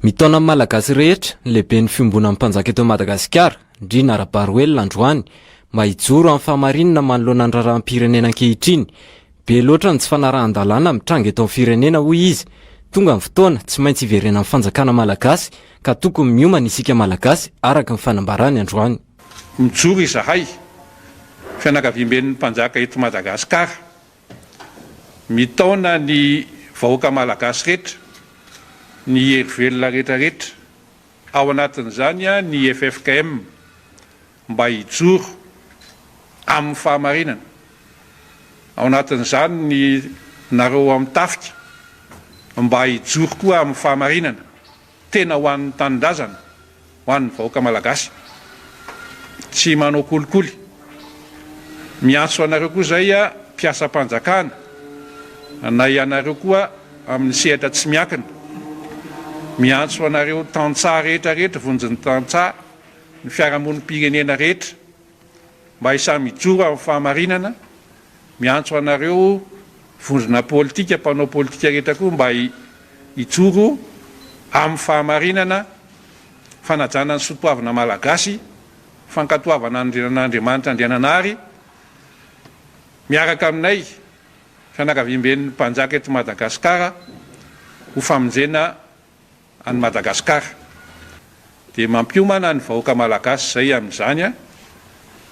Mitaona ny Malagasy rehetra ny lehiben'ny fiombonan'ny mpanjaka eto Madagasikara, Ndriana Rabaroelina androany, mba hijoro amin'ny fahamarinana manoloana ny raharaham-pirenena ankehitriny. Be loatra ny tsy fanarahan-dalàna mitranga eto amin'ny firenena, hoy izy. Tonga ny fotoana tsy maintsy hiverenan'ny fanjakana malagasy ka tokony miomana isika Malagasy, araka ny fanambarany androany. Mijoro izahay, fianakaviamben'ny mpanjaka eto Madagasikara. Mitaona ny vahoaka malagasy rehetra, ny hery velona retraretra, ao anatin'izany ny ffkm, mba hijoro amin'ny fahamarinana, ao anatin'izany ny nareo ao amin'ny tafika, mba hijoro koa amin'ny fahamarinana. Tena ho an'ny tanindrazana, ho an'ny vahoaka malagasy. Tsy manao kolikoly. Miantso anareo koa izay mpiasam-panjakana, na ianareo koa amin'ny sehatra tsy miankina. Miantso anareo tantsaha rehetra rehetra, vonjin'ny tantsaha, ny fiarahamonim-pirenena rehetra, Mba hisahy mijoro amin'ny fahamarinana, miantso anareo vondrona politika, mpanao politika rehetra koa mba hijoro amin'ny fahamarinana, fanajana ny soatoavina Malagasy, fankatoavana an'Andriamanitra Andriananahary, miaraka aminay fianakaviamben'ny Mpanjaka eto Madagasikara ho famonjena an'i Madagasikara dia mampiomana ny vahoaka Malagasy izay amin'izany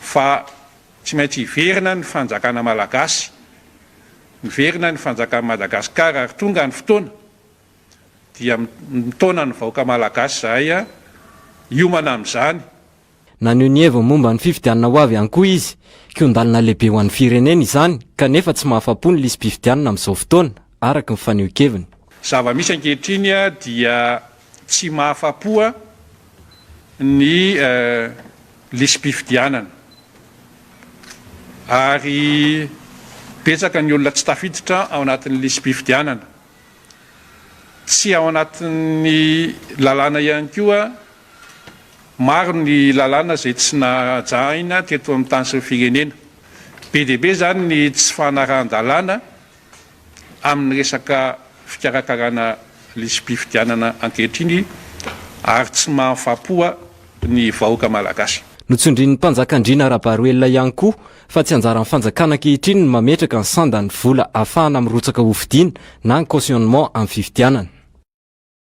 fa tsy maintsy hiverina ny fanjakana Malagasy, miverina ny fanjakan'i Madagasikara ary tonga ny fotoana dia mitaona ny vahoaka Malagasy izahay hiomana amin'izany. Naneho ny heviny momba ny fifidianana ho avy ihany koa izy. Kihon-dalana lehibe ho an'ny firenena izany, kanefa tsy mahafa-po ny lisi-pifidianana amin'izao fotoana, araka ny fanehoan-keviny. Zava-misy ankehitriny dia tsy mahafa-po ny lisi-pifidianana, ary betsaka ny olona tsy tafiditra ao anatin'ny lisi-pifidianana. Tsy ao anatin'ny lalàna ihany koa. Maro ny lalàna izay tsy najahina teto amin'ny tany sy ny firenena. Be dia be izany ny tsy fanarahan-dalàna amin'ny resaka fikarakarana lisi-pifidianana ankehitriny ary tsy mahafapoa ny vahoaka malagasy. Notsindrin'ny mpanjaka Andriana Rabaroelina ihany koa fa tsy anjaran'ny fanjakana ankehitriny ny mametraka ny sanda ny vola ahafahana mirotsaka hofidiana na ny cautionnement amin'ny fifidianana.